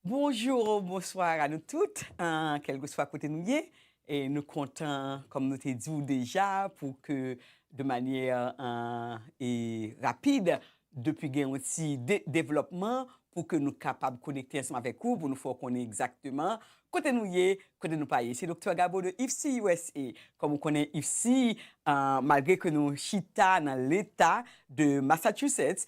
Bonjour ou bonsoir a nou tout, kelkeswa kote nou ye, nou kontan kòm nou te di ou deja pou ke de manyè rapid depi gen yon ti devlòpman pou ke nou kapab konekte ansanm avèk ou pou nou fè w konnen egzakteman kote nou ye, kote nou pa ye. Se Doktè Gabo de IFSI usa. Kòm ou konnen IFSI malgre ke nou chita nan leta de Massachusetts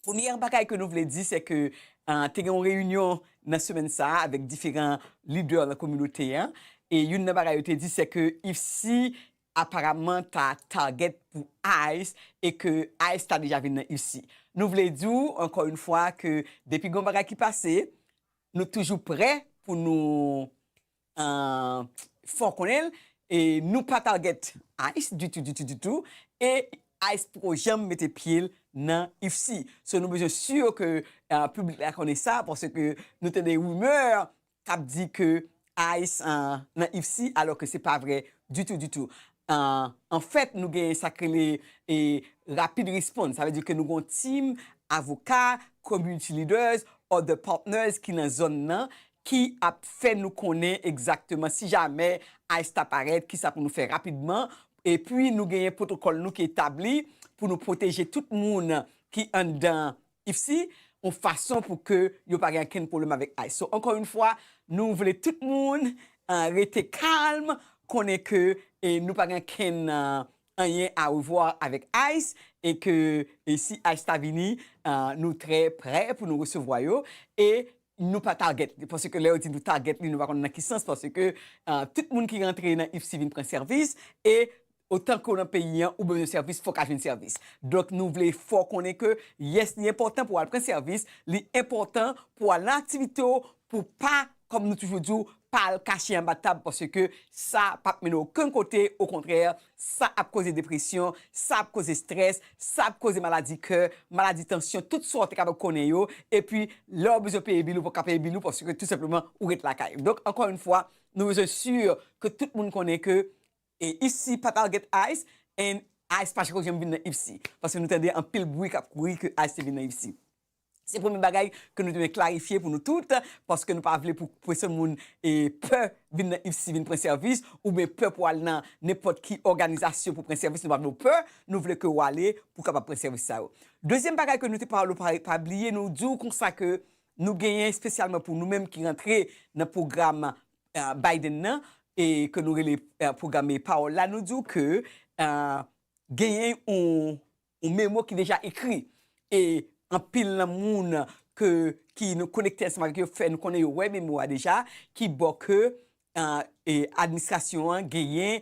Premyè bagay ke nou vle di se ke te gen yon reyinyon nan semèn sa a avèk diferan lidè nan kominote an e youn nan bagay yo te di se ke IFSI aparamman ta target pou ice e ke ice ta deja vin nan IFSI. Nou vle di w ankò yon fwa ke depi gen yon bagay ki pase nou toujou prè pou nou Ahh fòw konnenl nou pa target ice ditou ditou ditou e ice poko janm mete pyel nan ufc so nou bezwen sur ke publik la konnen sa paske nou tande rumeur kap di ke ice nan ufc alò ke se pa vre ditou ditou anfèt nou gen sak rele rapid response sa vle di ke nou gen yon team avoka community leaders other partners ki nan zòn nan ki ap fè nou konnen egzakteman si jamè ice ta parèt kisa pou nou fè rapidman epi nou genyen pwotokòl nou ki etabli pou nou pwoteje tout moun ki anndan ifsi yon fason pou ke yo pa gen ankenn pwoblèm avèk ice so ankò yon fwa nou vle tout moun rete kalm konnen ke nou pa gen ankenn anyen arevwa avèk ice e ke si ice ta vini nou trè prè pou nou resevwa yo e. Nou pa target li paske lè yo di nou target li nou pa konn nan ki sans paske tout moun ki rantre nan IFSI vin pran sèvis e otan ke w nan peyi an ou bezwen sèvis fò w ka jwenn sèvis. Donk nou vle fè w konnen ke yes li enpòtan pou w al pran sèvis, li enpòtan pou w al nan aktivite w pou w pa kòm nou toujou di w pa al kache anba tab paske sa pap mennen w okenn kote okontrè Sa ap koze depresyon, sa ap koze strès, sa ap koze maladi kè, maladi tansyon, tout sa w te kapab konnen yo, epi lè w bezwen peye bil ou pa ka peye bil ou paske tou senpleman ou ret lakay ou. Donk ankò yon fwa nou bezwen sur ke tout moun konnen ke Ipsy pa Target Ice and Ice pa chako janm vin nan Ipsy paske nou tande anpil bwi k ap kouri ke Ice te vin nan Ipsy. Se premye bagay ke nou te vle klarifye pou nou tout, paske nou pa vle pou pèsòn moun pè vin nan IFSI vin pran sèvis, oubyen pè pou al nan nenpòt ki òganizasyon pou pran sèvis, nou pa vle ou pè, nou vle ke ou ale pou kapab pran sèvis sa yo. Dezyèm bagay ke nou te pale ou pa bliye nou di ou konsa ke nou genyen espesyalman pou nou menm ki rantre nan pwogram Biden nan, e ke nou rele pwogram Pawòl la, nou di ou ke genyen yon. Yon memo ki deja ekri e anpil nan moun ke ki nou konekte ansanm avèk yo fè nou konnen yo wè memo a deja ki bo ke administrasyon an genyen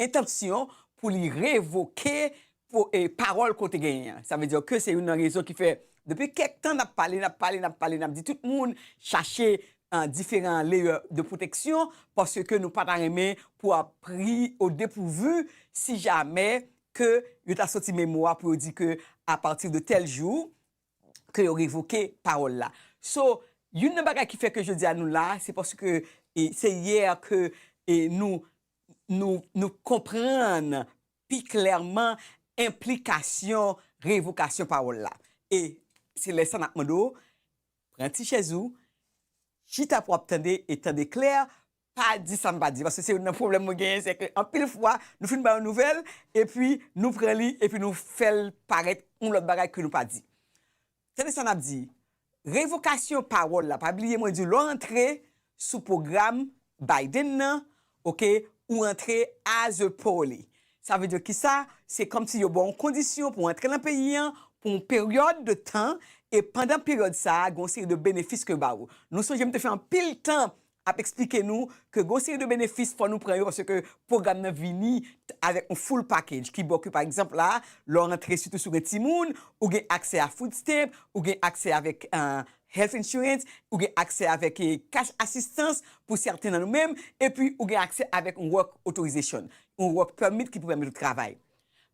entansyon pou li revoke pawòl ke w te genyen an. Sa vle di ke se youn nan rezon ki fè depi kèk tan nap pale, nap pale, nap pale, nap di tout moun chache diferan leyè de pwoteksyon paske nou pa ta renmen pou ap pri o depouvu si jamè ke yo ta soti memo a pou yo di ke a pati de tèl jou ke yo revoke pawòl la. So, youn nan bagay ki fè ke jodi a nou la a, se paske se yè ke nou nou konprann pi klèman enplikasyon revokasyon pawòl la. E se lè sa n ap mande w, pran ti chèz ou, chita pou w ap tande e tande klè pa di sam pa di paske se youn nan pwoblèm mwen genyen se ke anpil fwa nou fin bay yon nouvèl epi nou pran li epi nou fèl parèt yon lòt bagay ke nou pa di tande sa map di revokasyon pawòl la pa bliye mwen diw lè w antre sou pwogram Biden nan ok ou antre as a poly sa vle di kisa se kòmsi yo baw yon kondisyon pou antre nan peyi an pou yon peryòd de tan e pandan peryòd sa gon seri de benefis ke yo baw nou sonje m te fè anpil tan ap eksplike nou ke gon seri de benefis fò nou pran yo paske pwogram nan vini avèk yon full package ki baw ke pa egzanp la lè w rantre sitou si w gen timoun ou gen aksè a food stamp ou gen aksè avèk health insurance ou gen aksè avèk cash asistans pou sèten nan nou menm epi ou gen aksè avèk yon work authorization yon work permit ki pou pèmèt ou travay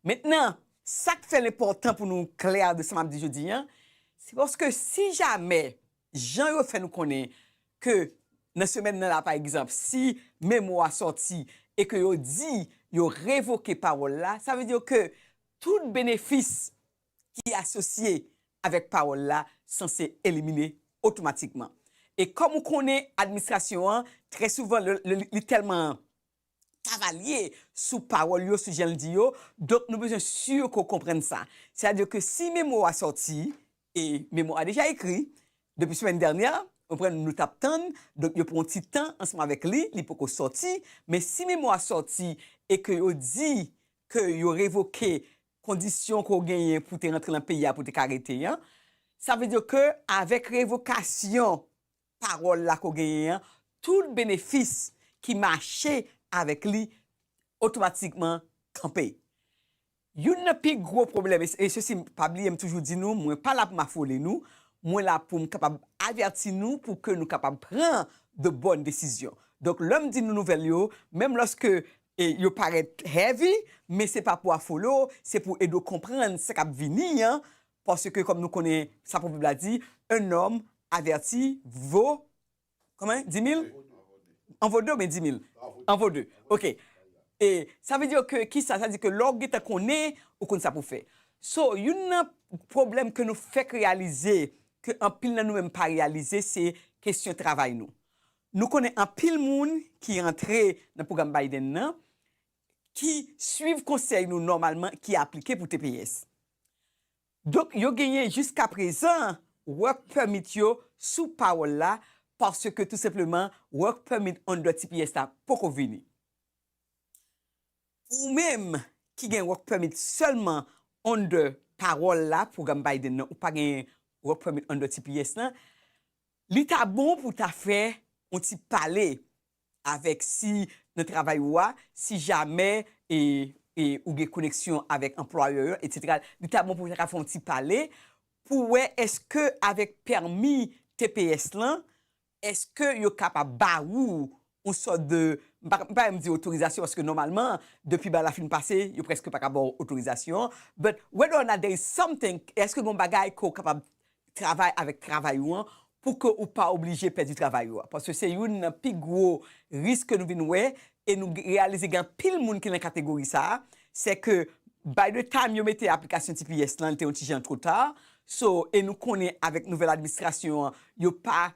mentnan sak fèl enpòtan pou nou klè de sa map di jodi an se paske si jamè Jan yo fè nou konnen ke nan semèn nan la pa egzanp si memo a sòti e ke yo di yo revoke pawòl la, sa vle di ke tout benefis ki asosye avèk pawòl la sanse elimine otomatikman. E kòm ou konnen administrasyon an, trè souvan lè li tèlman Cavalier sou pawòl yo, sou jan l di yo, donk nou bezwen si ke w konprann sa. Sètadi ke si memo a sòti, e memo a deja ekri, depi semèn dènyè, ou konprann, nou t ap tann, donk yo pran yon ti tan ansanm avèk li, li poko sòti, men si memo a sòti e ke yo di ke yo revoke kondisyon ke w genyen pou w te rantre nan peyi a pou w te ka rete an, sa vle di ke avèk revokasyon pawòl la ke w genyen an, tout benefis ki mache avèk li otomatikman kanpe. Youn nan pi gwo pwoblèm, e mesye si m pa bliye m toujou di nou, mwen pa la pou m afole nou, mwen la pou m kapab avèti nou pou ke nou kapab pran de bòn desizyon. Donk lè m di nou nouvèl yo, menm lòske yo parèt heavy, men se pa pou afole w, se pou ede w konprann sa k ap vini an, Paske kòm nou konnen sa pwovèb la di, un homme averti vaut konbyen? Dix mille? En vaut deux oubyen dix mille? En vaut deux. Ok. E sa vle di ke kisa? Sa vle di ke lè w gentan konnen, ou konn sa pou w fè. So, youn nan pwoblèm ke nou fèk reyalize, ke anpil nan nou menm pa reyalize, se kesyon travay nou. Nou konnen anpil moun ki rantre nan pwogram Biden nan, ki swiv konsèy nou nòmalman, ki aplike pou tps. Donk yo genyen jiskaprezan Work Permit yo sou pawòl la paske tou senpleman Work Permit under tps la poko vini. Pou ou menm ki gen Work Permit sèlman under pawòl la, pwogram Biden nan, ou pa gen Work Permit under tps la, li ta bon pou w ta fè yon ti pale avèk si nan travay ou a, si jamè e e ou gen koneksyon avèk anplwayè yo etsetera li ta bon pou ta ka fè yon ti pale pou wè èske avèk pèmi tps lan èske yo kapab ba ou yon sòt de m pa m pa renmn di otorizasyon paske nòmalman depi bal la fin pase yo prèske pa ka ba w otorizasyon but whether or not there is something èske gen yon bagay ke w kapab travay avèk travay ou an pou ke ou pa oblije pèdi travay ou a paske se youn nan pi gwo risk ke nou vin wè e nou reyalize gen anpil moun ki nan kategori sa a se ke by the time yo mete aplikasyon tps lan li te yon ti jan two ta so e nou konnen avèk nouvèl administrasyon an yo pa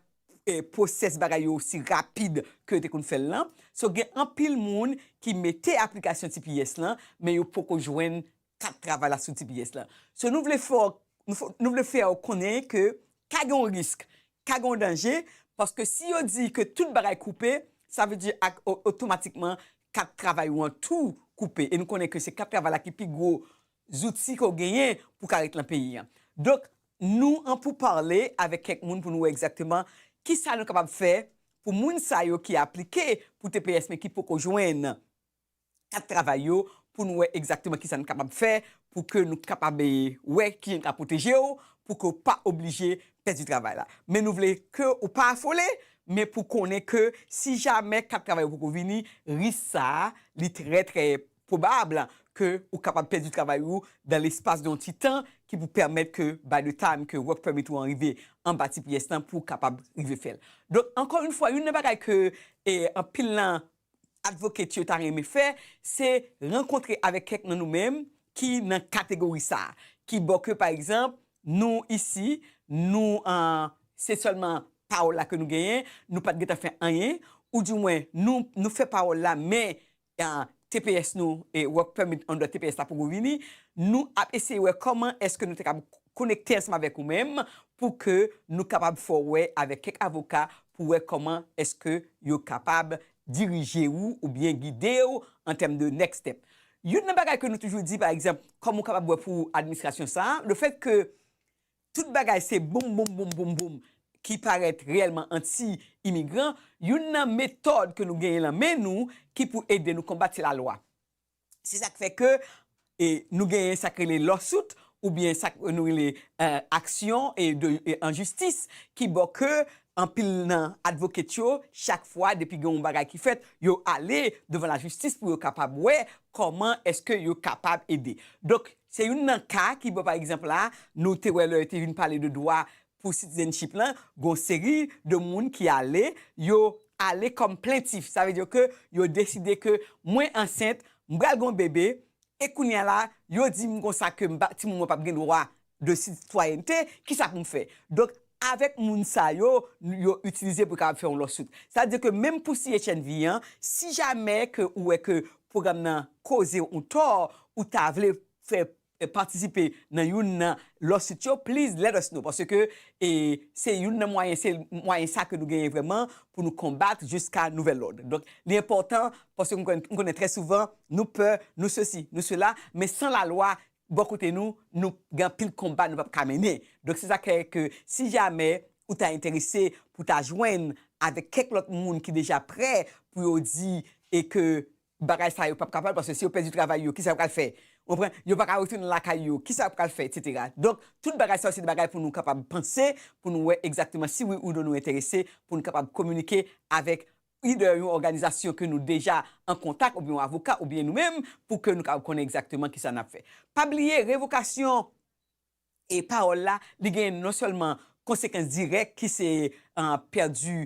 pwosès bagay yo osi rapid ke yo te konn fè l lan so gen anpil moun ki mete aplikasyon tps lan men yo poko jwenn Kat travay la sou tps la. So nou vle fè nou vle fè w konnen ke ka gen yon risk, ka gen yon danje paske si yo di ke tout bagay koupe sa vle di ak otomatikman kat travay ou an tou koupe e nou konnen ke se kat travay la ki pi gwo zouti ke w genyen pou w ka ret lan peyi an. Donk nou an pou pale avèk kèk moun pou nou wè egzakteman kisa nou kapab fè pou moun sa yo ki aplike pou tps men ki poko jwenn kat travay yo pou nou wè egzakteman kisa n kapab fè pou ke nou kapab wè kijan n ka pwoteje w pou ke w pa oblije pèdi travay la. Men nou vle ke w pa afole, men pou w konnen ke si jamè kat travay ou poko vini, risk sa a li trè trè pwobab ke ou kapab pèdi travay ou dan lespas de yon ti tan ki pou pèmèt ke by the time ke work permit ou an rive anba tps lan pou w kapab rive fè l. Donk ankò yon fwa, youn nan bagay ke anpil nan Advocate yo ta renmen fè, se rankontre avèk kèk nan nou menm ki nan kategori sa a, ki bò ke pa egzanp, nou isi, nou se sèlman pawòl la ke nou genyen, nou pat gentan fè anyen, ou di mwen nou fè pawòl la men tps nou, work permit under tps la poko vini, nou ap eseye wè kòman èske nou te kab konekte ansanm avèk ou menm pou ke nou kapab fè w wè avèk kèk avoka pou wè kòman èske yo kapab dirije ou oubyen gide ou an tèm de next step. Youn nan bagay ke nou toujou di pa egzanp kòm ou kapab wè pou administrasyon sa a, lefèt ke tout bagay se boum boum boum boum boum ki parèt reyèlman anti imigran, youn nan metòd ke nou genyen lan men nou ki pou ede nou konbat se lalwa. Se sak fè ke nou genyen sak rele lawsuit ou byen sak nou rele aksyon an jistis ki bo ke anpil nan advocate yo chak fwa depi gen yon bagay ki fèt yo ale devan la jistis pou yo kapab wè koman eske yo kapab ede. Donk se youn nan ka ki bo pa egzanp la nou te wè lè yo te vin pale de dwa Pou citizenship lan gon seri de moun ki ale yo ale kòm plentif sa vle di ke yo deside ke mwen ansent m pral gon bebe e kounya la yo di m konsa ke m pa timoun mwen pap gen dwa de sitwayènte kisa pou m fè donk avèk moun sa yo yo itilize pou kapab fè yon lò sout sa di ke menm pou CHNV an si jamè ke ou wè ke pwogram nan koze w yon tò ou ta vle fè patisipe nan youn nan lawsuit yo please let us know paske se youn nan mwayen se mwayen sa ke nou genyen vrèman pou nou konbat jiska nouvèl lòd donk li enpòtan paske m konnen trè souvan nou pè nou sesi nou sela men san la lwa bò kote nou nou gen anpil konba nou pap ka mennen donk se sa k fè ke si jamè ou ta enterese pou ta jwenn avèk kèk lòt moun ki deja prè pou yo di e ke Bagay sa yo pap ka pale paske si yo pèdi travay yo kisa yo pral fè ou konprann yo paka retounen lakay yo kisa yo pral fè etc. Donk tout bagay sa yo se de bagay pou nou kapab panse pou nou wè egzakteman si wi ou non nou enterese pou nou kapab kominike avèk either yon òganizasyon ke nou deja an kontak oubyen yon avoka oubyen nou menm pou ke nou kapab konnen egzakteman kisa nap fè. Pa bliye revokasyon E pawòl la, li gen non sèlman konsekans dirèk ki se pèdi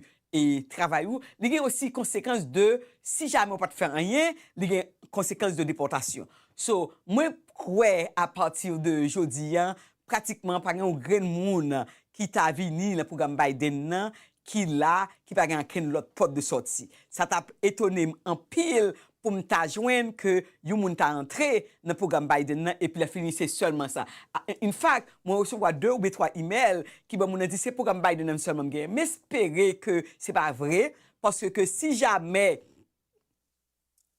travay ou, li gen osi konsekans de si jamè ou pa t fè anyen, li gen konsekans de depòtasyon. So, mwen kwè a pati de jodi an, pratikman pa gen yon grenn moun ki ta vini nan pwogram Biden nan ki la, ki pa gen ankenn lòt pòt de sòti. Sa t ap etone m anpil pou m ta jwenn ke yon moun ta antre nan pwogram Biden nan epi lèfini se sèlman sa. In fact, mwen resevwa de oubyen twa imèl ki ban moun nan di se pwogram Biden nan sèlman m genyen. M espere ke se pa vre, paske ke si jamè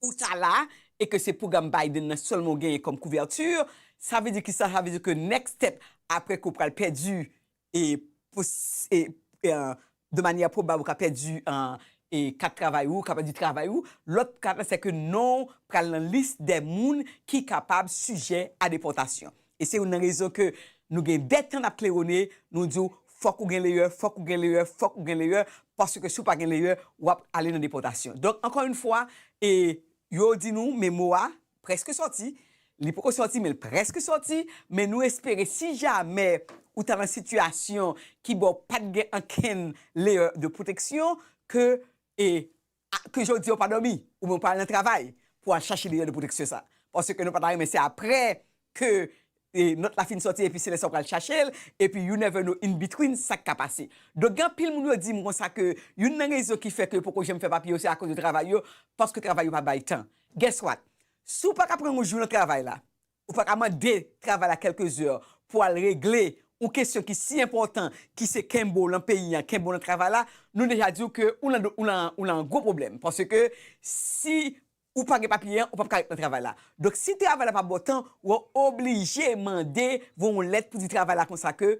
ou ta la e ke se pwogram Biden nan sèlman ou genyen kòm couverture, sa vle di kisa? Sa vle di ke next step apre ke ou pral pèdi e de manyè pwobab ou ka pèdi kat travay ou, ou ka pèdi travay ou, lòt kat la se ke non ou pral nan lis dè moun ki kapab sijè a depòtasyon. E se youn nan rezon ke nou gen dè tan n ap klewone, nou di w fòk ou gen leyè, fòk ou gen leyè, fòk ou gen leyè, paske si w pa gen leyè, w ap ale nan depòtasyon. Donk, ankò youn fwa, yo di nou men mo a, Preske sòti, li poko sòti men l preske sòti, men nou espere si jamè ou ta nan sitiyasyon ki ba w pat gen ankenn leyè de pwoteksyon ke e ke jodi a ou pa dòmi ou men ou pa al nan travay pou al chache leyè de pwoteksyon sa paske nou pa ta renmen se aprè ke nòt la fin sòti epi se lè sa ou pral chache l epi you never know in between sa k ka pase. Donk gen anpil moun yo di m konsa ke youn nan rezon ki fè ke yo poko janm fè papye yo se akoz de travay yo paske travay yo pa bay tan. Guess what? Si w pa ka pran yon jou nan travay la, ou pa ka mande travay la quelques heures pou al regle yon kesyon ki si enpòtan ki se kenbe w lan peyi an, kenbe w lan travay la, nou deja di w ke ou lan gwo pwoblèm paske si ou pa gen papye an ou pap ka ret nan travay la donk si travay la pa baw tan wa oblije mande voye yon lèt pou di travay la konsa ke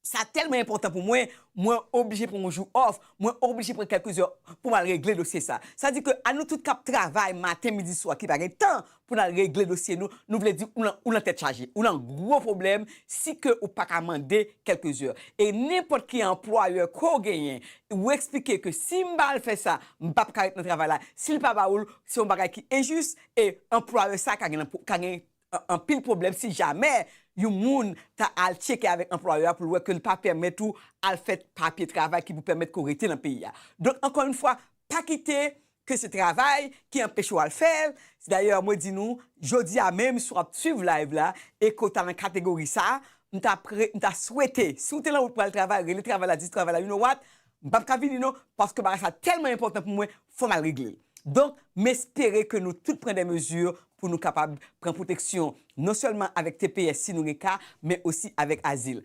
sa tèlman enpòtan pou mwen mwen oblije pran yon jou off mwen oblije pran kèlke zè pou mal regle dosye sa sa di ke a nou tout kap travay maten midi swa ki pa gen tan pou nal regle dosye nou nou vle di ou nan tèt chaje ou nan gwo pwoblèm si ke ou paka mande kèlke zè e nenpòt ki anplwayè ke w genyen ou eksplike ke sim pa al fè sa M pap ka ret nan travay la si l pa ba ou l, se yon bagay ki enjis e anplwayè sa ka gen ka gen anpil pwoblèm si jamè yon moun ta al tcheke avèk anplwayè a pou l wè ke l pa pèmèt ou al fè papye travay ki pou pèmèt ke w rete nan peyi a. Donk ankò yon fwa pa kite ke se travay ki anpeche w al fè l, dayè mwen di nou jodi a menm si w ap swiv live la e ke w ta nan kategori sa, m ta pre m ta swete si w te nan wout pou al travay rele travay la di travay la you know what M pap ka vini non paske bagay sa tèlman enpòtan pou mwen fò m al regle l. Donk m espere ke nou tout pran dè mezi pou nou kapab pran pwoteksyon non sèlman avèk tps si nou gen ka men osi avèk azil.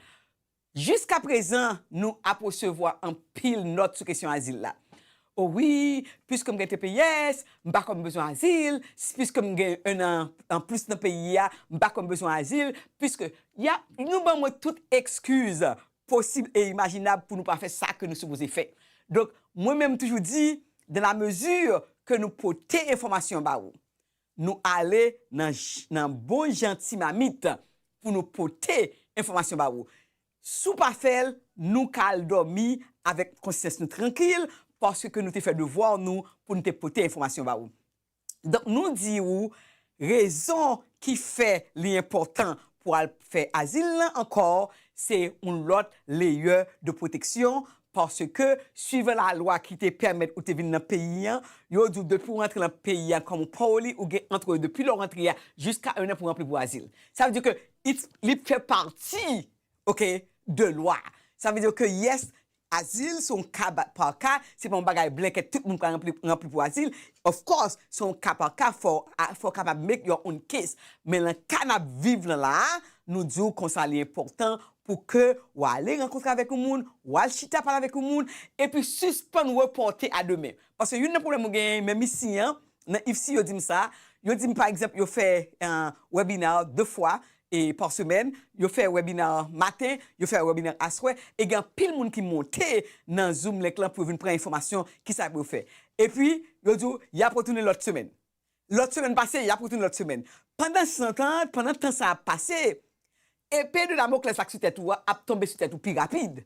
Jiska prezan nou ap resevwa anpil nòt sou kesyon azil la. O wi, piske m gen tps, m pa kwè m bezwen azil, si piske m gen 1 an anplis nan peyi a, m pa kwè m bezwen azil, piske. Y ap nou ban mwen tout ekskiz posib e imajinab pou nou pa fè sa ke nou sipoze fè. Donk, mwen menm m toujou di, dans la mesure ke nou pote enfòmasyon ba ou, nou ale nan nan bon jan ti mamit pou nou pote enfòmasyon ba ou. Si w pa fè l, nou ka al dòmi avèk konsyans nou trankil paske ke nou te fè devwa nou pou nou te pote enfòmasyon ba ou. Donk nou di ou rezon ki fè li enpòtan pou al fè azil lan ankò se yon lòt leyè de pwoteksyon paske swivan lalwa ki te pèmèt ou te vin nan peyi an yo di w depi w rantre nan peyi an kòm w pa w li ou gen antre depi lè w rantre a jiska ennan pou w aple pou azil sa vle di ke li fè pati ok de lwa sa vle di ke yes Azil se yon ka par ka, se pa yon bagay blanket tout moun pral ranpli pou azil, of course se yon ka par ka fò w kapab make your own case men lan ka nap viv lan la a nou di w konsa li enpòtan pou ke w ale rankontre avèk yon moun, w al chita pale avèk yon moun epi sispann repòte a demen paske youn nan pwoblèm mwen genyen menm isi an nan IFSI yo di m sa yo di m pa egzanp yo fè webinar 2 fwa e pa semèn, yo fè wèbina an maten, yo fè wèbina an aswè, e gen anpil moun ki monte nan Zoom Link lan pou yo vin pran enfòmasyon ki sa pou yo fè. Epi, yo di w, y ap retounen lòt semèn. Lòt semèn pase, y ap retounen lòt semèn. Pandan san tan an, pandan tan sa ap pase, epe de Damoklès la ki sou tèt ou a ap tonbe sou tèt ou pi rapid.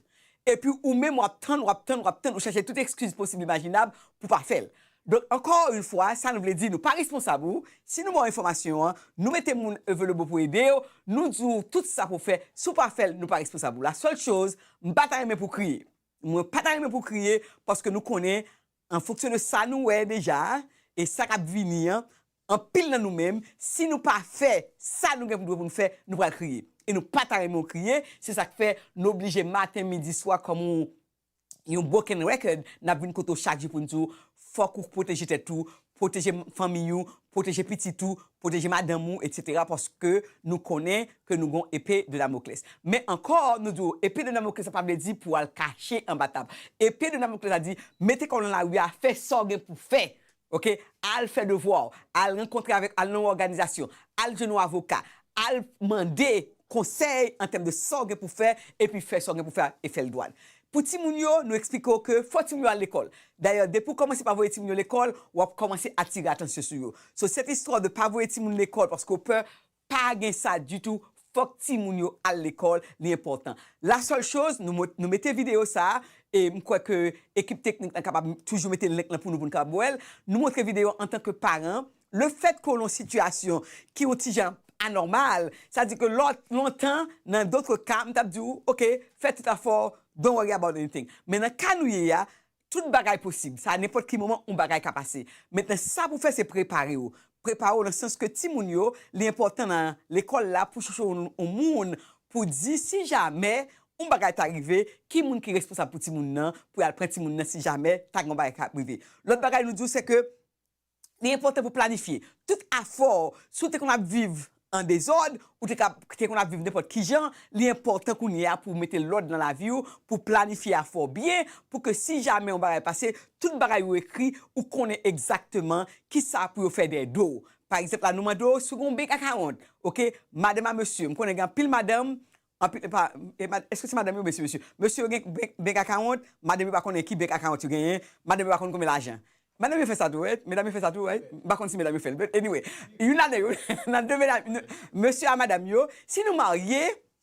Epi ou menm w ap tann, w ap tann, w ap tann, ou chache tout ekskiz posib imajinab pou w pa fè l. Donk ankò yn fwa sa nou vle di nou pa responsab ou si nou baw enfòmasyon an nou mete moun evelebo pou edew nou diw tout sa pou fè si w pa fèl nou pa responsab ou la sèl choz m pa ta renmen pou kriye mwen pa ta renmen pou kriye paske nou konnen an fonksyon de sa nou wè deja e sa kap vini an anpil nan nou menm si nou pa fè sa nou gen pou dwe pou nou fè nou pral kriye e nou pa ta renmen w kriye se sak fè nou oblije maten midi swa kòm yon yon broken record nap vin kote w chak jou poun di w fòk ou pwoteje tèt ou pwoteje fanmiy ou pwoteje pitit ou pwoteje madanm ou etc paske nou konnen ke nou gon epe de damokles men ankò nou di w epe de damokles la pa vle di pou al kache anba tab epe de damokles la di mete kò w nan lari a fè sa w gen pou fè Ok al fè devwa w, al rankontre avèk, al nan yon òganizasyon, al jwenn yon avoka, al mande konsèy an tèm de sa w gen pou fè epi fè sa w gen pou fè a e fè l dwat. Pou timoun yo, nou eksplike w ke fò timoun yo al lekòl. Dayè depi w kòmanse pa voye timoun yo lekòl, w ap kòmanse atire atansyon sou yo. So cette histoire de pa voye timoun lekòl paske w pè, Pa gen sa ditou fok ti moun yo al lekol li enpotan la sel choz nou mete video sa e m kwe ke ekip teknik lan kapab toujou mete link lan pou nou pou nou kapab wel nou montre video antan ke paran le fet ke w lon sitiyasyon ki yon ti jan anormal sa di ke lot lontan nan dotre ka m tap di w ok fe tout afo w don't worry about anything men nan ka nou ye a Tout bagay posib, sa nenpòt ki moman yon bagay ka pase. Mentnan sa pou fè se prepare w. Prepare w nan sans ke timoun yo, li enpòtan nan lekòl la pou chèche yon moun pou di si jamè yon bagay ta rive, ki moun ki responsab pou timoun nan, pou y al pran timoun nan si jamè ta gen yon bagay k ap rive. Lòt bagay nou di w se ke Li enpòtan pou planifye tout afè w. Si w te konn ap viv an dezòd, ou te ka te konn ap viv nenpòt kijan, li enpòtan kounye a pou w mete lòd nan lavi w, pou w planifye afè w byen, pou ke si jamè yon bagay pase, tout bagay yo ekri, ou konnen egzakteman kisa pou yo fè dèyè do w. Pa egzanp la nou mande w si w gen yon bek ak awont, ok, madanm a mesye, m konnen gen anpil madanm, Anpil epa eske se madanm yo mesi mesye mesye yo gen bank account madanm yo pa konnen ki bank account yo genyen madanm yo pa konnen konbyen lajan madanm yo fè sa tou right medam yo fè sa tou right m pa konn si medam yo fèl but anyway youn ladan yo nan de medam mesye a madam yo si nou marye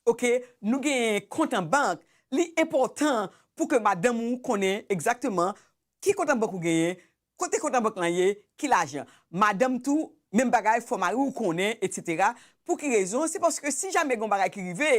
ok nou genyen kont an bank li enpòtan pou ke madanm ou konnen egzakteman ki kont an bank ou genyen Kote kont labank lan ye? Ki lajan? Madanm tou, menm bagay, fò mari w konnen, etsetera Pou ki rezon? Se paske si jamè gen yon bagay ki rive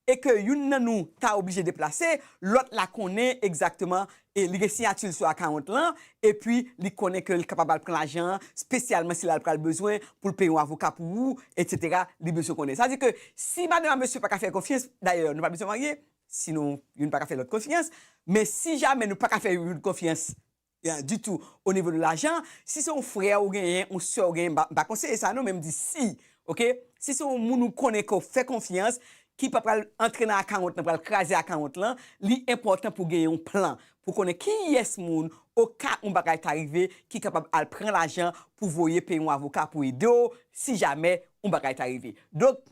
e ke youn nan nou ta oblije deplase, lòt la konnen egzakteman e li gen siyati l sou akawont lan, epi li konnen ke l kapab al pran lajan an, spesyalman si l al pral bezwen pou l peye yon avoka pou ou, etsetera Li bezwen konnen. Sa vle di ke si madanm a mesye pa ka fè l konfyans, dayè nou pa bezwen marye, sinon youn pa ka fè lòt konfyans, men si jamè nou pa ka fè youn konfyans, Ditou o nivo de lajan si se yon frè ou genyen yon sè ou genyen mpa konseye sa non men mdi si ok si se yon moun ou konnen ke ou fè konfyans ki pa pral antre nan akawont lan pral kraze akawont lan li enpòtan pou genyen yon plan pou konnen kiyès moun o ka yon bagay ta rive ki kapab al pran lajan pou voye peye yon avoka pou ede'w si jamè yon bagay ta rive donk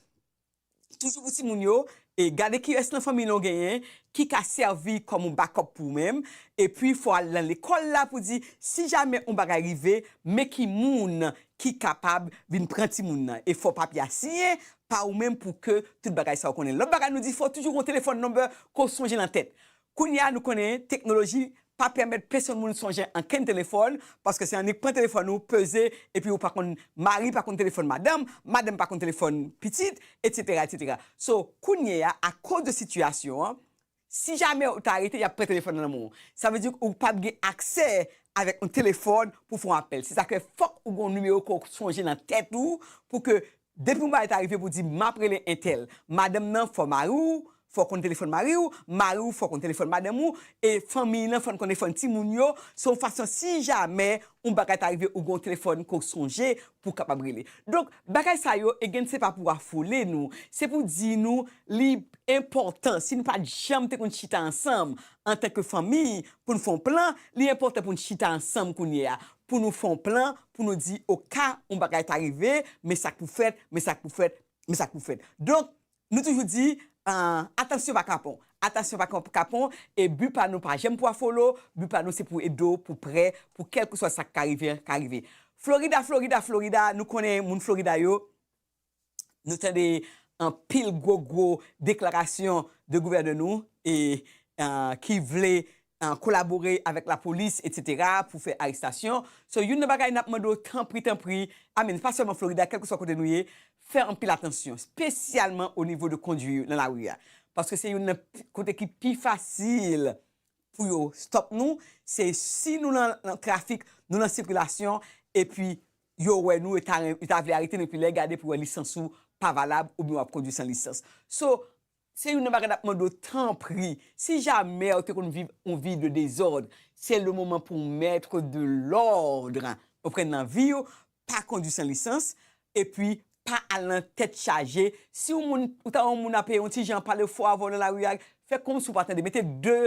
toujou pou timoun yo, e gade kilès nan fanmiy lan ou genyen ki ka sèvi kòm yon bakòp pou ou menm, epi fò al nan lekòl la pou di si jamè yon bagay rive men ki moun ki kapab vin pran timoun nan, e fò papye a siyen pa ou menm pou ke tout bagay sa ou konnen. Lòt bagay nou di fò toujou gon telefòn number ke w sonje nan tèt, Kounye a nou konnen teknoloji pa pèmèt pesonn moun sonje ankenn telefòn, paske se annik pran telefòn ou, peze, epi ou pa konn, mari pa konn telefòn madanm, madanm pa konn telefòn pitit, etsetera, etsetera. So, kounye a, akoz de sitiyasyon an, si jamè ou ta rete y ap pran telefòn nan men w. Sa vle di ou pap gen aksè avèk yon telefòn pou w fè yon apèl. Se sa k fè fòk ou gen yon nimewo ke w sonje nan tèt ou pou ke Depi yon bagay ta rive pou di map rele entèl, madanm nan fò mariw fò konn telefòn mariw, mariw fò konn telefòn madanm ou, e fanmiy lan fòn konn telefòn timoun yo, se yon fason si jamè yon bagay ta rive ou gen yon telefòn ke w sonje pou w kapab rele. Donk bagay sa yo again se pa pou afole nou, se pou di nou li enpòtan si nou pat janm te konn chita ansanm antanke fanmiy pou n fè yon plan, li enpòtan pou n chita ansanm kounyea pou nou fè yon plan pou nou di oka yon bagay ta rive, men sa k pou fèt, men sa k pou fèt, men sa k pou fèt. Donk, nou toujou di, atansyon pa kapon, atansyon pa kapon, e bi pa nou pa janm pou afolo, bi pa nou se pou ede w pou prè, pou kèlkeswa sa k ka rive an ka rive. Florida, Florida, Florida, nou konnen moun Florida yo, nou tande anpil gwo gwo deklarasyon de gouvènè nou e ki vle kolabore avèk la polis etc pou fè arestasyon so youn nan bagay nap mande w tanpri tanpri a min pa sèlman Florida kèlke swa kote nou ye fè anpil atansyon spesyalman o nivo de kondwi nan la ri a paske se youn nan kote ki pi fasil pou yo stop nou se si nou nan trafik nou nan sikilasyon epi yo wè nou yo ta renmen yo ta vle arete nou epi lè gade pou wè lisans ou pa valab oubyen wap kondwi san lisans so se youn nan bagay nap mande w tanpri si jamè ou te konn viv yon vi de dezòd se le moman pou w mètre de lòdre ou pran nan vi w pa kondwi san lisans epi pa al nan tèt chaje si w moun ou ta wè yon moun ape yon ti jan pale fò avè w nan lari a fè kòmsi w pa tande mete de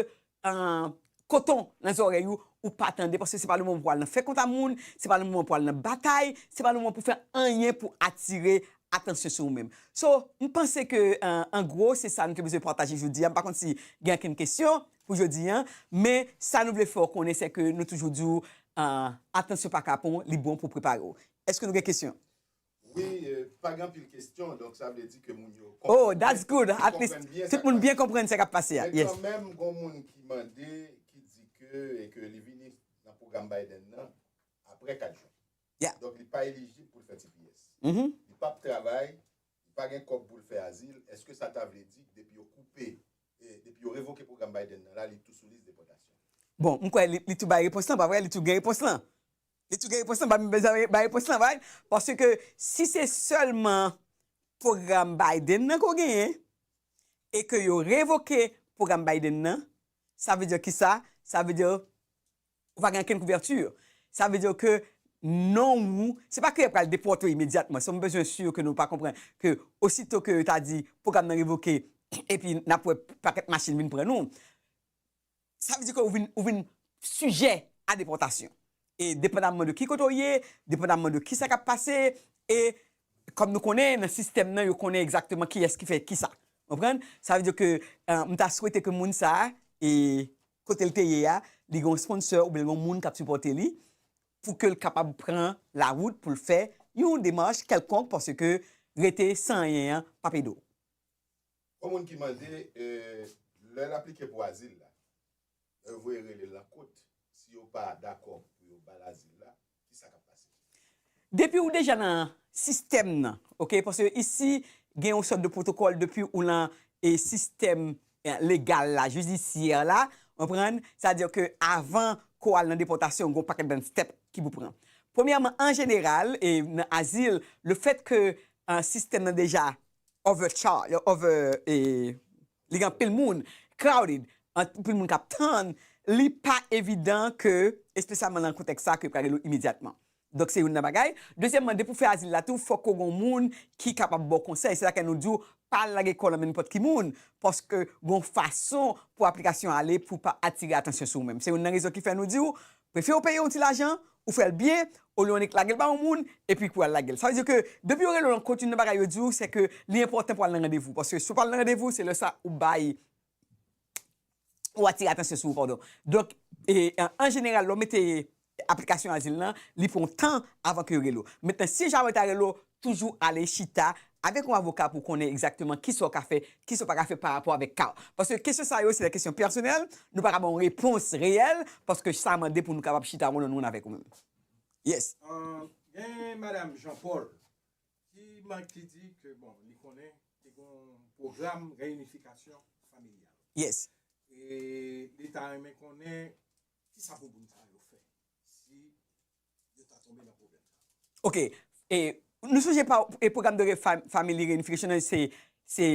koton nan zòrèy ou, ou pa tande paske se pa le moman pou al nan fè kont a moun, se pa le moman pou al nan batay, se pa le moman pou fè anyen pou atire atansyon sou ou menm. So, m panse ke an gwo se sa nou te bezwen pataje jodi a, m pa konn si gen ankenn kesyon pou jodi an, men sa nou vle fè w konnen se ke nou toujou di w atansyon pa kapon, li bon pou w prepare w. Eske nou gen kesyon? Wi pa gen anpil kesyon donk sa vle di ke moun yo konprann byen. Oh that's good at least tout moun byen konprann sa kap pase a. Yes. Men kanmenm gon moun ki mande ki di ke e ke li vini nan pwogram Biden nan aprè 4 jen. Yeah. Donk li pa elijib pou l fè tps. Li pap travay, li pa gen kòb pou l fè azil, eske sa ta vle di depi yo koupe depi yo revoke pwogram Biden nan la li tou sou lis depòtasyon? Bon m kwè li tou bay repons lan pa vre? Li tou gen repons lan. Li tou gen repons lan banm bay repons lan bay paske si se sèlman pwogram Biden nan ke w genyen e ke yo revoke pwogram Biden nan sa vle di kisa sa vle di ou pa gen okenn kouvèti sa vle di ke non ou se pa ke yo pral depòte w imedyatman sa m bezwen si ke nou pa konprann ke osito ke yo ta di pwogram nan revoke epi n ap wè pakèt machin vin pran nou. Sa vle di ke ou vin, ou vin sijè a depòtasyon. E depandamman de ki kote ou ye, depandamman de kisa kap pase, e kòm nou konnen nan sistèm nan yo konnen egzakteman kiyès ki fè kisa. Konprann? Sa vle di ke m ta swete ke moun sa, e kote l te ye a, li gen yon sponsor oubyen l gen yon moun kap sipòte li, pou ke l kapab pran la wout pou l fè yon demach kèlkonk paske rete san anyen an pap ede w. Yon moun ki mande lè l aplike pou azil la, lè yo voye rele l nan kot, si yo pa dakò pou yo ba l azil la, ki sa k ap pase? Depi ou deja nan sistèm nan, ok, paske isi gen yon sòt de pwotokòl depi ou nan sistèm legal la, jidisyè la, ou konprann, sa di ke avan ke w al nan depòtasyon gen yon pakèt bann stèp ki pou pran. Premyèman, an jeneral, nan azil, lefèt ke sistèm nan deja overcharge, over e li gen anpil moun, crowded, anpil moun k ap tann, li pa evidan ke, espesyalman nan kontèks sa a, ke yo pral rele w imedyatman. Donk se youn nan bagay. Dezyèmman, depi w fè azil la tou, fòk ou gen yon moun ki kapab ba w konsèy. Se sa kè nou di w, pa al lage kò w nan men nenpòt ki moun, paske gen yon fason pou aplikasyon an ale pou pa atire atansyon sou ou menm. Se youn nan rezon ki fè nou di w, Prefè ou peye yon ti lajan, ou fèl byen, olye yon nèk lagel ba yon moun, epi pou al lagel. Sa vle di ke depi yo rele w nan kont youn nan bagay yo di w se ke li enpòtan pou al nan randevou. Paske si w pa al nan randevou se lè sa ou bay ou atire atansyon sou ou padon. Donk an jeneral lè w mete aplikasyon azil lan, li pran tan avan ke yo rele w. Mentnan si jamè yo ta rele w, Toujou ale chita avèk yon avoka pou w konnen egzakteman kisa w ka fè, kisa w pa ka fè pa rapò avèk ka w. Paske kesyon sa yo se de kesyon pèsonèl, nou pa ka ba w yon repons reyèl paske sa mande pou nou kapab chita one on one avèk ou menm. Yes. Gen madam Jean Paul ki man ki di ke bon li konnen te gen yon pwogram reyinifikasyon familyal. Yes. E li ta renmen konnen kisa bouboun sa yo fè si Ok, e nou sonje pa e pwogram de family reunification an se se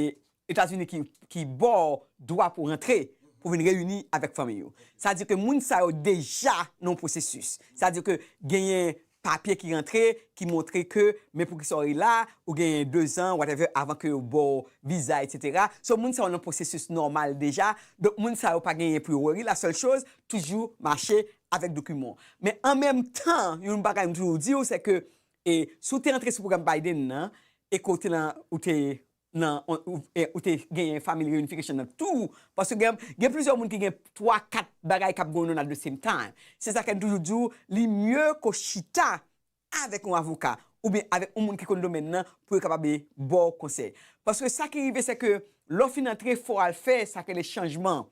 Etazini ki ba w dwa pou rantre pou vin reyini avèk fanmiy ou. Sa di ke moun sa yo deja nan yon pwosesis. Sa di ke genyen papye ki rantre ki montre ke men pou kisa w ye la, ou genyen dezan whatever avan ke yo ba w viza etc. So moun sa yo nan pwosesis nòmal deja. Donk moun sa yo pa genyen pou yo wori. La sèl choz toujou mache avèk dokiman w. Men an menm tan, yon bagay m toujou di w, se ke si w te antre sou pwogram Biden nan e ke w te nan, ou te nan, ou te genyen family reunification nan tou, paske gen, gen plizyè moun ki gen twa, kat bagay k ap going on at the same time. Se sa fè n toujou di w, li mye ke w chita avèk yon avoka oubyen avèk yon moun ki konn domèn nan pou yo kapab ba w konsèy. Paske sa ki rive se ke lè w fin antre fò w al fè sa ki rele chanjman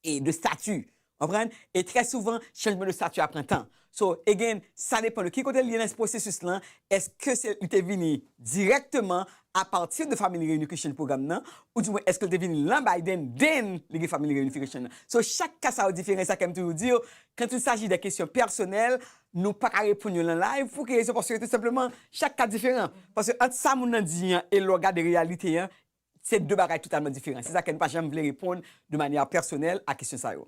e de stati konprann e trè souvan chanjman de stati a pran tan so again sa depan de ki kote li ye nan pwosesis lan eske se li te vini dirèkteman apati de family reunification program nan ou di mwen eske li te vini lan Biden then li gen family reunification nan so chak ka sa yo diferan e sa kèm toujou di yo quand il s'agit de kesyon pèsonèl nou pa ka reponn yo lan live pou ki rezon paske tout senpleman chak ka diferan paske ant sa moun nan di an e lè w gade reyalite an Se de bagay totalman diferan. Se sa k fè nou pa janm vle reponn de manyè pèsonèl a kesyon sa yo.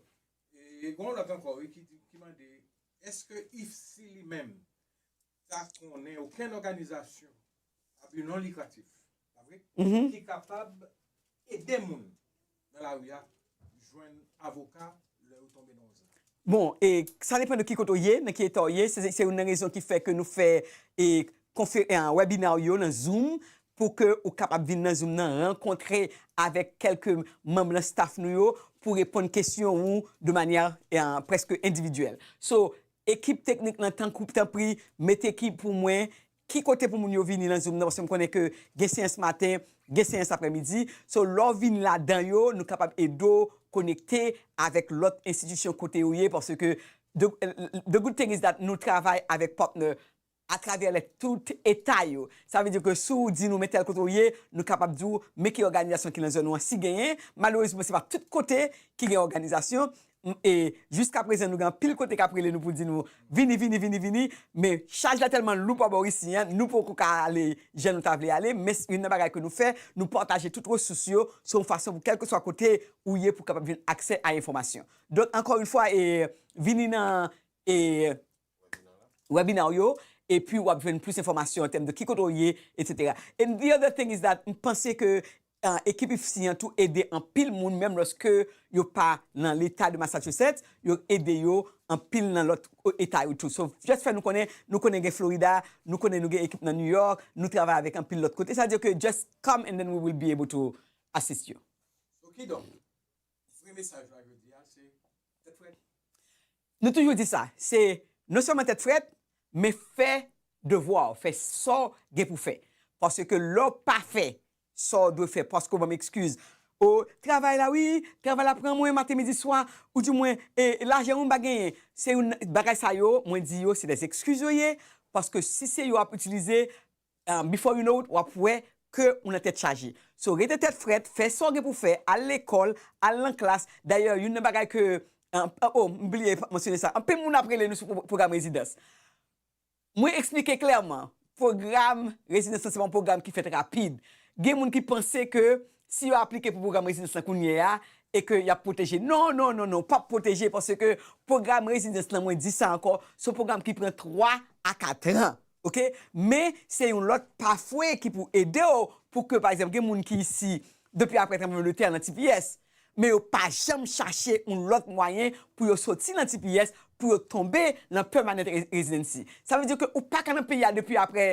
E gen yon lòt ankò wi ki di, ki mande, Èske IFC li menm ta konnen okenn òganizasyon a bi non likratif, pa vre, ki kapab ede moun nan lari a Bon, e, sa depan de ki kote ou ye, nan ki eta ou ye, se, se youn nan rezon ki fè ke nou fè, e, konfe, e, wèbina ou yo nan zoom, pou ke ou kapab vin nan zoom nan, rankontre avèk kèlke manm nan staff nou yo, pou reponn kesyon ou de manyè, e, prèske endividyèl. So, ekip teknik nan tankou, tanpri, mete ki pou mwen, Ki kote pou moun yo vini nan zoom nan paske m konnen ke gen seyans maten, gen seyans aprè midi, so lè w vini ladan yo nou kapab ede w konekte avèk lòt enstitisyon kote yo ye paske the good thing is that nou travay avèk partner atravè lè tout eta yo sa vle di ke si w di nou men tèl kote w ye nou kapab di w men ki òganizasyon ki nan zòn ou an si genyen malerezman se pa tout kote ki gen òganizasyon e jiska prezan nou gen anpil kote kap rele nou pou di nou vini vini vini vini men chaj la tèlman lou pa bò Risi an nou poko ka ale jan nou ta vle ale men youn nan bagay ke nou fè nou pataje tout resous yo se yon fason pou kèlkeswa kote ou ye pou kapab jwenn aksè a enfòmasyon donk ankò youn fwa e vini nan e Webinar ou yo epi wap jwenn plis enfòmasyon an tèm de ki kote ou ye etc. And the other thing is that m panse ke ekip IFSI an tou ede anpil moun menm lòske yo pa nan leta de Massachusetts yo ede yo anpil nan lòt eta yo tou so just fè nou konnen nou konnen gen Florida nou konnen nou gen ekip nan New York nou travay avèk anpil lòt kote sa vle di ke just come and then we will be able to assist you. So kidonk vre mesaj la jodi a se tèt frèt? Nou toujou di sa, se non sèlman tèt frèt, men fè devwa w, fè sa w gen pou fè. Paske lè w pa fè sa w dwe fè paske w ban m ekskiz, o, travay la wi, travay la pran mwen maten midi swa, ou di mwen, e, lajan wi m pa genyen. Se youn nan bagay sa yo, mwen di yo se dè ekskiz yo ye, paske si se yo ap itilize, before you know it wap wè ke ou nan tèt chaje so rete tèt frèt fè sa ou gen pou fè al lekòl al nan klas dayè youn nan bagay ke oh m bliye pat mansyone sa anpil moun ap rele nou sou pwogram rezidans mwen eksplike klèman pwogram rezidans lan se pa yon pwogram ki fèt rapid gen moun ki panse ke si yo aplike pou pwogram rezidans lan kounye a e ke yap pwoteje non non non non pap pwoteje paske pwogram rezidans lan mwen di sa ankò se yon pwogram ki pran 3 a 4 ans. ok men se yon lòt pafwe ki pou edew pou ke pa egzanp gen moun ki isi depi aprè tranbleman de tè nan tps men yo pa janm chache yon lòt mwayen pou yo soti nan tps pou yo tonbe nan pèmanant rezidansi sa vle di ke ou paka nan peyi a depi aprè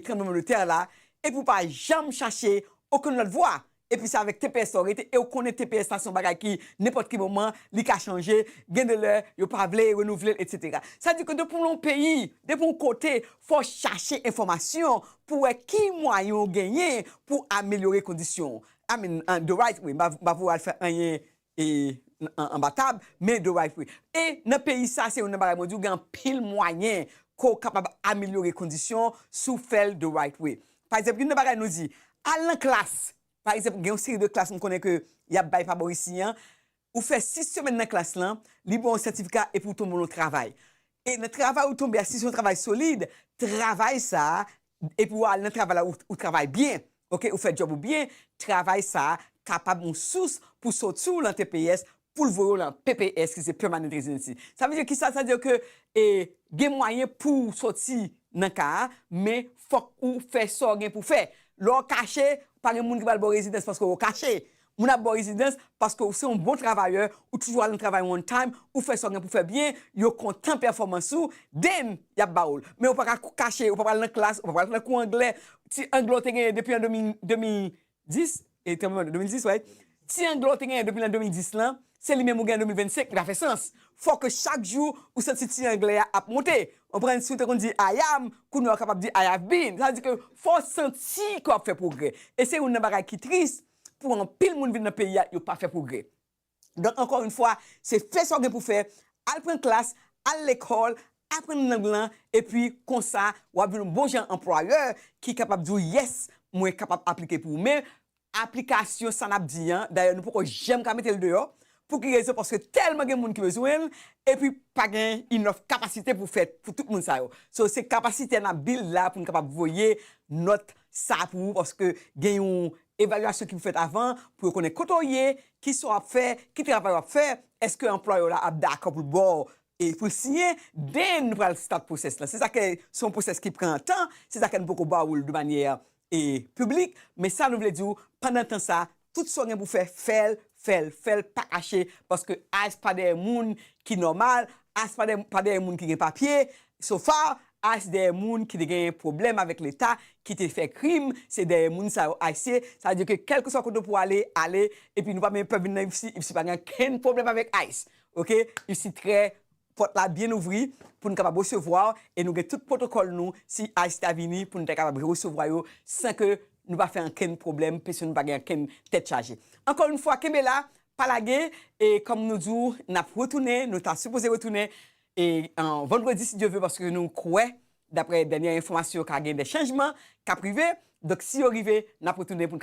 tranbleman de tè la epi ou pa janm chache okenn lòt vwa epi se avèk tps la w rete e w konnen tps la se yon bagay ki nenpòt ki moman li ka chanje, gen de lè yo pa vle renouvle l etsetera. Sa di ke depi w nan peyi, depi yon kote fò w chache enfòmasyon pou w wè ki mwayen w genyen pou w amelyore kondisyon w. I mean, the right way, m pa vle w al fè anyen E anba tab, men de way fri. E nan peyi sa se youn nan bagay mwen diw gen anpil mwayen ke w kapab amelyore kondisyon si w fè l de right way. Pa egzanp youn nan bagay nou di, al nan klas, pa egzanp gen yon seri de klas m konnen ke yap bay pa bò isi an, ou fè 6 semèn nan klas lan, li ba w yon sètifika epi w tonbe nan yon travay. E nan travay ou tonbe a si se yon travay solid, travay sa Epi ou al nan travay la ou travay byen ok ou fè djòb ou byen travay sa kapab yon sous pou soti w lan tps pou l voye w lan pps ki se permanent residency sa vle di kisa sa vle di ke e gen mwayen pou w soti nan ka a men fòk ou fè sa w gen pou w fè lè w kache pa gen moun ki pral ba w rezidans paske w kache Moun ap baw rezidans paske ou se yon bon travayè, ou toujou al nan travay on time, ou fè sa ou gen pou fè byen, yo kontan pèfòmans ou, then yap ba oul. Men ou pa ka kache, ou pa pral nan klas, ou pa pral nan kou anglè, ti anglè ou te genyen depi an 2010, e tranbleman de 2010 right, ti anglè ou te genyen depi lan 2010 lan, se li menm ou gen an 2025, li pa fè sans. Fò ke chak jou ou santi ti anglè a ap monte. Konprann? Si ou te konn di I am, kounye a ou kapab di I have been. Sa vle di ke fò ou santi ke wap fè pwogrè. E se youn nan bagay ki triste, pou anpil moun vin nan peyi a yo pa fè pwogrè. Donk ankò yn fwa se fè sa w gen pou fè, al pran klas, al lekòl, aprann lang lan epi konsa w ap vin yon bon jan anplwayè ki kapab di w yès mwen kapab aplike pou ou men aplikasyon sa n ap di an dayè nou poko janm ka mete l deyò pou ki rezon paske tèlman gen moun ki bezwen l epi pa gen inòf kapasite pou fèt pou tout moun sa yo so se kapasitè n ap build la pou n kapab voye nòt sa pou ou paske gen yon evalyasyon ki pou fèt avan pou yo konnen kote w ye, ki sa w ap fè, ki travay w ap fè, èske anplwayè w la ap dakò pou l ba w e pou l siyen, den nou pral start pwosès la. Se sa ke se yon pwosès ki pran tan, se sa ke nou poko ba ou l de manyè e piblik, men sa nou vle di w pandan tan sa Tout sa w gen pou w fè, fè l, fè l, fè l pa kache paske Ice pa dèyè moun ki nòmal, Ice pa dèyè pa dèyè moun ki gen papye, so far Ice dèyè moun ki te genyen pwoblèm avèk leta, ki te fè krim, se dèyè moun sa yo Ice ye, sa vle di ke kèlkeswa kote w pou w ale, ale, epi nou pa bezwen pè vin nan Ipsy, Ipsy pa gen ankenn pwoblèm avèk Ice, ok, Ipsy trè Pòt la byen ouvri pou n kapab resevwa w e nou gen tout pwotokòl nou si ice ta vini pou n ta kapab re-resevwa yo san ke nou pa fè ankenn pwoblèm pèsonn pa gen ankenn tèt chaje. Ankò yon fwa kenbe la, pa lage e kòm nou di w n ap retounen, nou ta sipoze retounen e vandredi si Dye ve paske nou kwè daprè dènyè enfòmasyon ka gen dè chanjman k ap rive donk si yo rive n ap retounen pou n ka.